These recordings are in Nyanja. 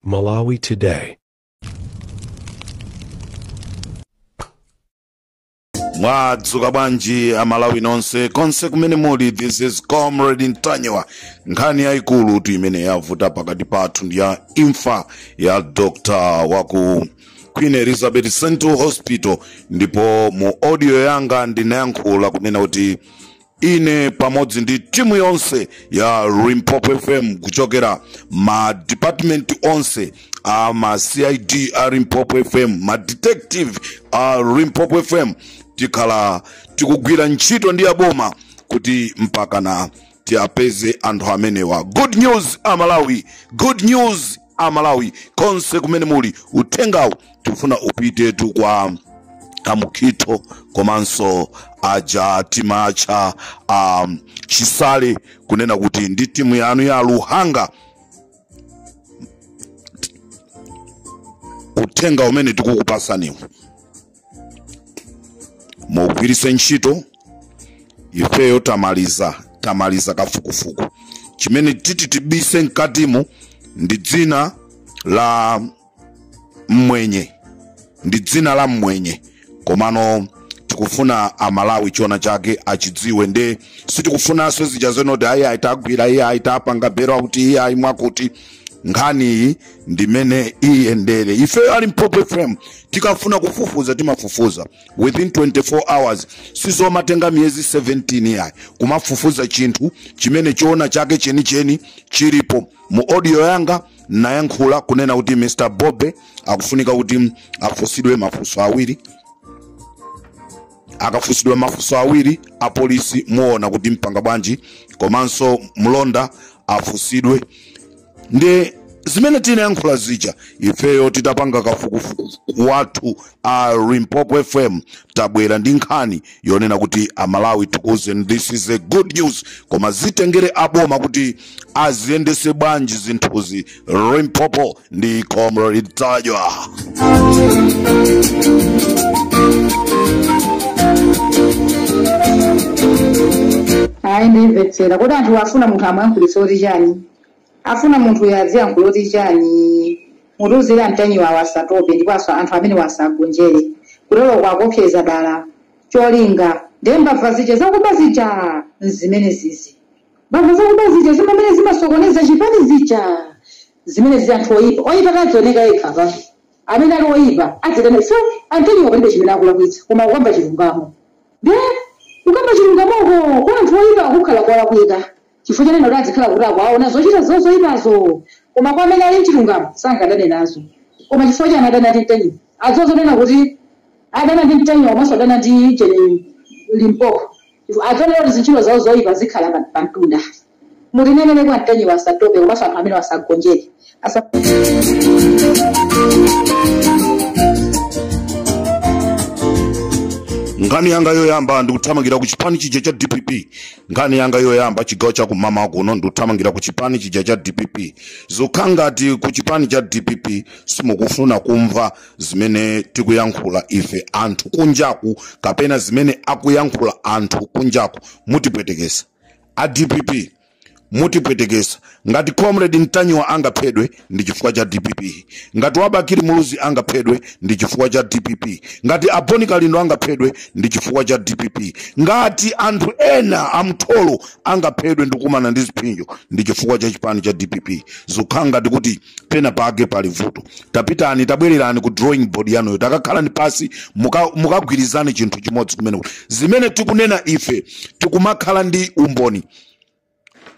Malawi Today. mwadzuka bwanji amalawi nonse konse kumene muli this is comrade ntanyiwa nkhani yayikulutu imene yavuta pakati pathu ndi ya imfa ya dr waku queen elizabeth central hospital ndipo mu audio yanga ndinayankhula kunena kuti ine pamodzi ndi timu yonse ya limpopo fm kuchokera ma department onse a ma cid a limpopo fm ma detective a limpopo fm tikhala tikugwira ntchito ndi aboma kuti mpakana tiapeze anthu amenewa good news amalawi good news amalawi konse kumene muli uthengawu tifuna upitetu kwa a Mukhito komanso aja timatcha um, chisale kunena kuti ndi timu yanu ya luhanga uthenga umene tikukupasaniwu mugwiritse ntchito ifeyo tamaliza tamaliza kafukufuku chimene titi tibise mkatimu ndi dzina la mmwenye ndi dzina la mmwenye komano tikufuna amalawi choona chake achidziwe nde sitikufunanso zija zenoti ayi ayi tagwira iye ayi tapanga bero akuti iye ayi mwakuti nkhaniyi ndimene iyendere ifeyo a limpopo fm tikafuna kufufuza timafufuza within 24 hours sizomatenga miyezi 17 iyayi kumafufuza chinthu chimene choona chake chenicheni chilipo mu audio yanga nayankhula kunena kuti mr bobe akufunika kuti afunsidwe mafunso awiri akafunsidwa mafunso awiri apolisi muona kuti mupanga bwanji komanso mlonda afunsidwe ndi zimene tinayankhula zija ifeyo titapanga kafukufuku wathu a limpopo fm tabwera ndi nkhani yonena kuti amalawi tikuuzeni this is a good news koma zitengere aboma kuti aziyendese bwanji zinthuzi limpopo ndi comrade ntanyiwa ayi ndimvetsera kuti anthu afuna munthu amwankhulitsa kuti chani Afuna munthuyu adziyankhula oti chani? Mutiuzire antanyiwawo asatope ndipo anthu amenewa asawagonjere. Kuteroko akuopseza dala cholinga nde mbava zija zakuba zija nzimenezizi. Mbava zakuba zija zimene zimasokoneza chipani zija zimenezi anthu oyipa oyipa adzioneka yekha apatu amene ali oyipa adzitani ifeyo antanyiwa palibe chimene akulakwitsa koma kukamba chilungamo nde kukamba chilungamoko kwa anthu oyipa kukhala kolakwika Chifukwa chonena kuti adzikhala akuwaona zochita zawo zoipazo, koma kwa amene ali m'chilungamo sangadane nazo, koma chifukwa chani adana ndi Ntanyiwa, adziwa zonena kuti adana ndi Ntanyiwa komanso adana ndi Ujeni Limpopo, chifukwa adziwona kuti zintchito zawo zoipa zikhala pamtunda. Mutinenere kwa Ntanyiwa asatope komanso anthu amenewo asagonjere. nkhani yanga yoyamba ndikuthamangira ku chipani chija cha dpp nkhani yanga yoyamba chigawo cha kummawa kuno ndikuthamangira ku chipani chija cha dpp zukhala ngati ku chipani cha dpp simukufuna kumva zimene tikuyankhula ife anthu kunjaku kapena zimene akuyankhula anthu kunjaku mutipwetekesa a dpp mutipwetekesa ngati comrade ntanyiwa angaphedwe ndi chifukwa cha dpp ngati abakili muluzi angaphedwe ndi chifukwa cha dpp ngati a bon kalindo angaphedwe ndi chifukwa cha dpp ngati anthu ena amtholo angaphedwe ndikumana ndi ziphinjo ndi chifukwa cha chipani cha dpp zikukhala ngati kuti pena pake pali vuto tapitani tabwererani ku drawing board yanuyo takakhalani pasi muka- mukagwirizane chinthu chimodzi kumeneko zimene tikunena ife tikumakhala ndi umboni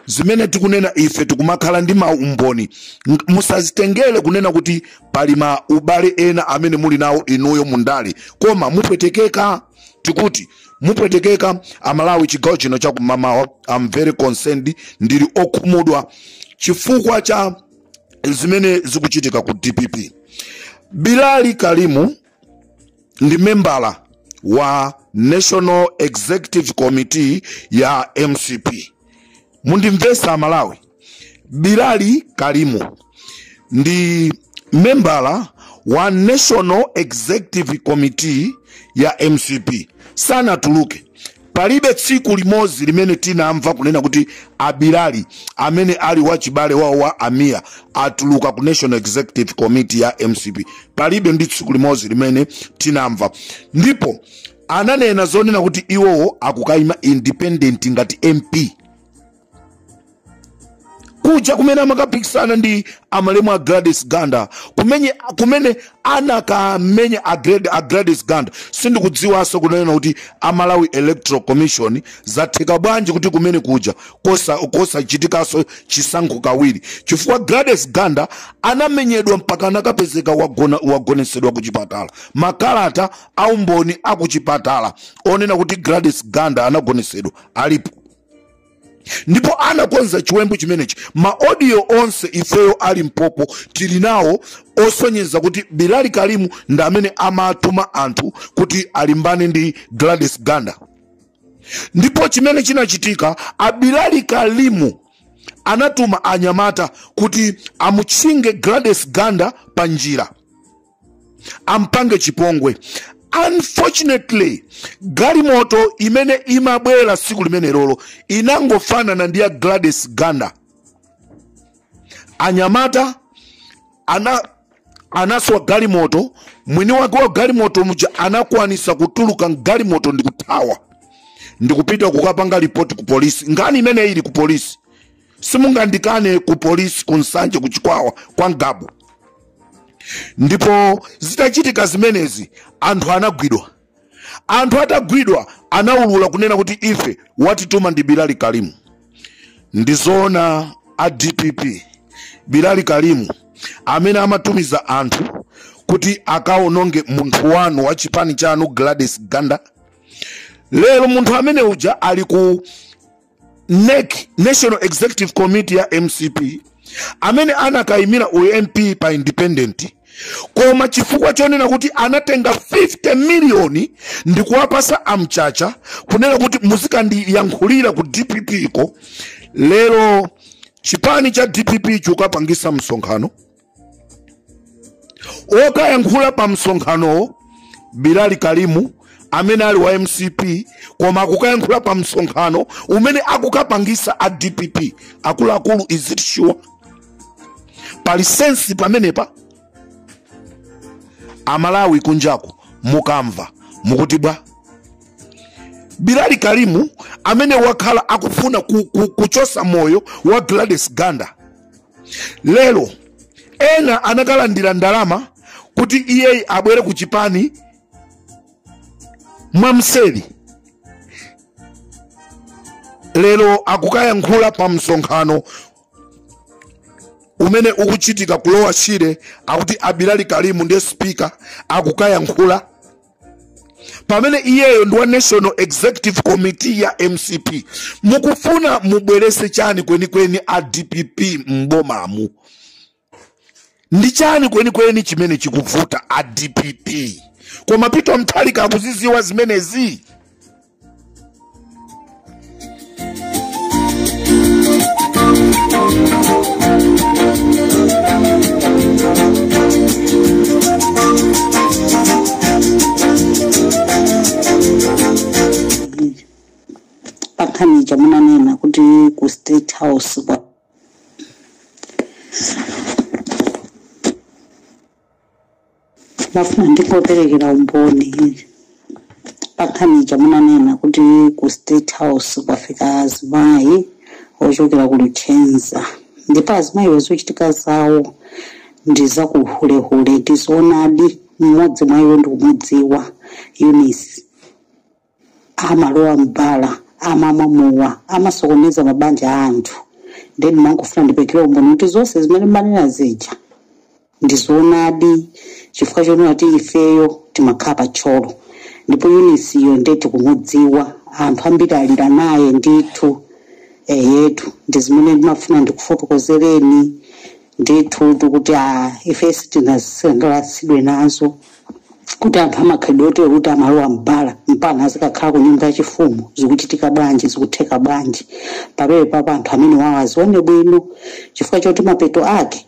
zimene tikunena ife tikumakhala ndi maumboni Ng- musazitengere kunena kuti pali ma ubale ena amene muli nawo inuyo mundale koma mupwetekeka tikuti mupwetekeka amalawi chigawo chino chakummawa I'm very concerned ndili okhumudwa chifukwa cha zimene zikuchitika ku dpp bilali karim ndi membala wa national executive committee ya mcp mundimvese amalawi bilali karim ndi membala wa national executive committee ya mcp sanatuluke Palibe tsiku limozi limene tinamva kunena kuti a Bilali, amene ali wachibale wawo wa a Mia, atuluka ku National Executive Committee ya mcp. Palibe ndi tsiku limozi limene tinamva. Ndipo ananena zonena kuti iwowo akukaima independent ngati MP. kuja kumene amakapikisana ndi amayi a gladys ganda kumene, kumene anakamenya a Glad- a gladys ganda sindikudziwanso kunena kuti a malawi electoral commission zatheka bwanji kuti kumene kuja kosa- kosachitikanso chisankho kawiri chifukwa gladys ganda anamenyedwa mpaka anakapezeka wagona- wagonesedwa ku chipatala makalata aumboni akuchipatala onena kuti gladys ganda anagonesedwa alipo ndipo anakonza chiwembu chimenechi maodiyo onse ifeyo ali mpopo tili nawo osonyeza kuti bilali kalimu ndamene amatuma anthu kuti alimbane ndi gladys ganda ndipo chimene chinachitika abilali kalimu anatuma anyamata kuti amutchinge gladys ganda pa njira ampange chipongwe unfortunately galimoto imene imabwera siku limenelolo inangofanana ndi ya gladys ganda anyamata anaswa galimoto mwini wake wa galimoto muja anakwanisa kutuluka mgalimoto ndikuthawa ndikupita kukapanga ripoti ku polisi nkhani imeneyi ili ku polisi simungandikane ku polisi ku nsanje ku chikwawa kwa ngabu ndipo zitachitika zimenezi anthu anagwidwa anthu atagwidwa anaulula kunena kuti ife watituma ndi bilali kalimu ndizoona a dpp bilali kalimu amene amatumiza anthu kuti akaononge munthu wanu wa chipani chanu gladys ganda lero munthu amene uja ali ku nec national executive committee ya mcp amene anakayimira ump pa independent koma chifukwa chonena kuti anatenga 50 miliyoni ndi kuwapasa amchacha kunena kuti muzikandiyankhulira ku dpp ko lero chipani cha dpp chukapangisa msonkhano okayankhula pa msonkhanowo bilali kalimu amene ali wa mcp koma akukayankhula pa msonkhano umene akukapangisa a dpp akuluakulu is it sure pali sensi pamenepa amalawi kunjako mukamva mukuti bwa bilali kalimu amene wakhala akufuna kuchosa moyo wa gladys ganda lero ena anakalandira ndalama kuti iye abwere ku chipani mwamseri lero akukayankhula pa msonkhano umene ukuchitika ku lower shire akuti abilali kalimu ndiye spika akukayankhula pamene iyeyo ndi wa national executive committee ya mcp mukufuna mubwerese chani kwenikweni a dpp m'bomamu ndi chani kwenikweni chimene chikuvuta a dpp koma peter mutharika akuziziwa zimenezi pankhani ija munanena kuti ku state house kwa mafuna ndingoperekera umboni pankhani ija munanena kuti ku state house kwafika azimayi ochokera ku luchenza ndipo azimayiwo zochitika zawo ndi zakuhulehule ndi zoonadi mmodzi mwa iwo ndikumudziwa eunice amalowa m'bala amamwa mowa amasokoneza mabanja a anthu nde ndimangofuna ndiperekere umboni kuti zonse zimene manena zija ndizoonadi chifukwa chonena kuti ifeyo timakhala pa thyolo ndipo euniceyo nde tikumudziwa anthu ambiri alira naye ndithu eyetu ndi zimene ndimafuna ndikufotokozereni ndithu kuti ife sitinasangalasidwe nazo kuti anthu amakhalidwe otero kuti amalowa mbala mpana azikakhala ku nyumba yachifumu zikuchitika bwanji zikutheka bwanji pamenepapa anthu amenewawo azione bwino chifukwa choti mapeto ake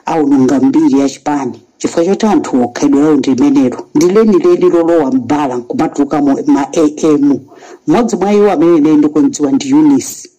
aononga mbiri ya chipani chifukwa choti anthuwo khalidwe lawo ndi limenelo ndi lenileni lolowa mbala nkumatulukamo ma am mmodzi mwa iwo amene ine ndikumdziwa ndi eunice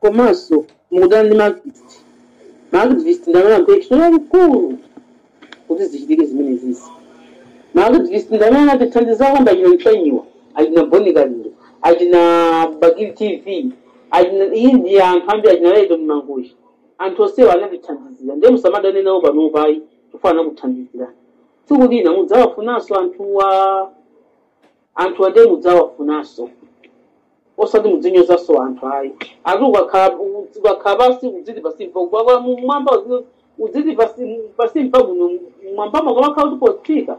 komanso mukudana ndi maaktivist maaktivist ndamene agwira ntchito yaikulu kuti zichitike zimenezizi maaktivist ndamene anatithandiza kwambiri achina ntanyiwa achina bon kalindo achina bakili tv achina iyi ndi anthu ambiri achina leto mmangochi anthu onsewa anatithandizira ndiye musamadane nawo panopa ayi chifukwa anakuthandizira tsiku lina mudzawafunanso anthuwa anthuwa ndiye mudzawafunanso osati mudzinyozanso anthu ayi ati ukakhala ukakhala pasi udziti pasimpa ubwabwa mumwamba udziti pasi mpabwino mwambamo kumakhala kuti potsika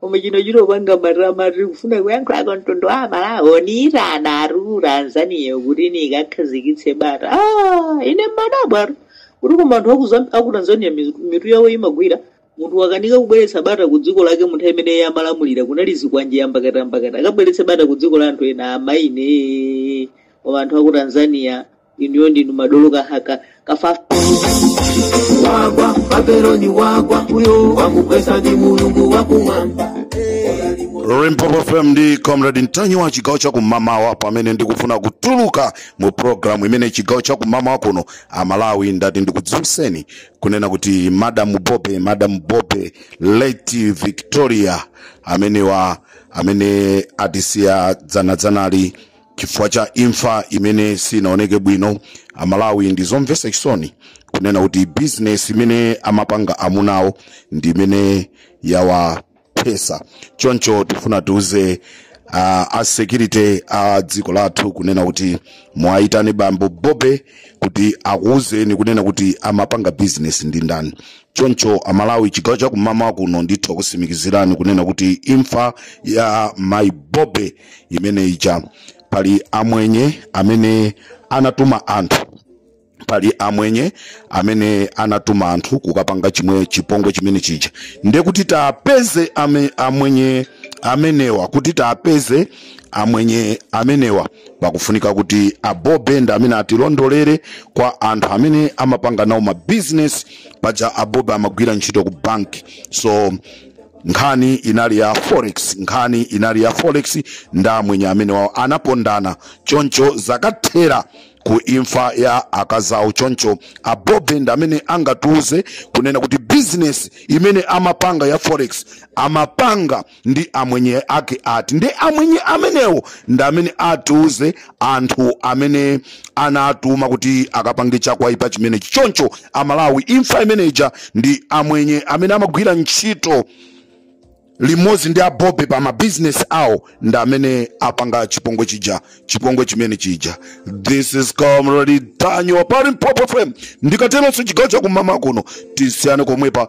koma chino chitopanga matama tiri kufuna kuyankhula ku mtundu wa amalawi aniitanatu ku tanzania kuti nikakhazikitse bata ah, ine mmadabwatu kuti koma anthu aku Zam- aku tanzania mizu- mitu yawo imagwira munthu wakanika kubweretsa bata ku dziko lake munthu amene iye amalamulira kunali zikwanje yambakatambakata akabweretse bata ku dziko la anthu ena amaine koma anthu aku tanzania inuyo ndinu madolo kahaka kafafa wagwa babeloni wagwa uyo wakugwesa ndi mulungu wakumwamba Limpopo FM ndi Comrade Ntanyi wa chigawo cha kumamawa pamene ndikufuna kutuluka mu programu imene chigawo cha kumamawa kuno Amalawi ndati ndikudziwitseni kunena kuti Madam Bobe Madam Bobe late Victoria amenewa amene atisiya dzana dzanali chifukwa cha imfa imene sinaoneke bwino amalawi ndi zomvetsa chisoni kunena kuti bizinesi imene amapanga amunawo ndi imene yawaphetsa choncho tifuna tiuze uh, a security a dziko lathu kunena kuti muwayitane bambo bobe kuti akuwuzeni kunena kuti amapanga bizinesi ndi ndani choncho amalawi chigawo chakumamawa kuno ndithu takusimikizirani kunena kuti imfa ya mai bobe imene ija pali amwenye amene anatuma anthu pali amwenye amene anatuma anthu kukapanga chimwe chipongwe chimene chija ndiye kuti tapeze ame, amwenye amenewa kuti tapeze amwenye amenewa pakufunika kuti abobe ndi amene atilondolere kwa anthu amene amapanga nawo mabizinesi paja abobe amagwira ntchito ku banki so nkhani inali ya forex nkhani inali ya forex ndi amwenye amenewawo anapondana choncho zakathera ku imfa ya akazawo choncho abobe ndi amene angatiuze kunena kuti bizinesi imene amapanga ya forex amapanga ndi amwenye ake ati nde amwenye amenewo ndi amene atiuze anthu amene anatuma kuti akapange chakuipa chimenechi choncho amalawi imfa imeneja ndi amwenye amene amagwira ntchito limodzi ndi abobe pa mabizinesi awo ndi amene apanga chipongwe chija chipongwe chimene chija this is comrade ntanyiwa pa limpopo fm ndikatero ndiye chigawo chakumamawa kuno tisiyane komwepa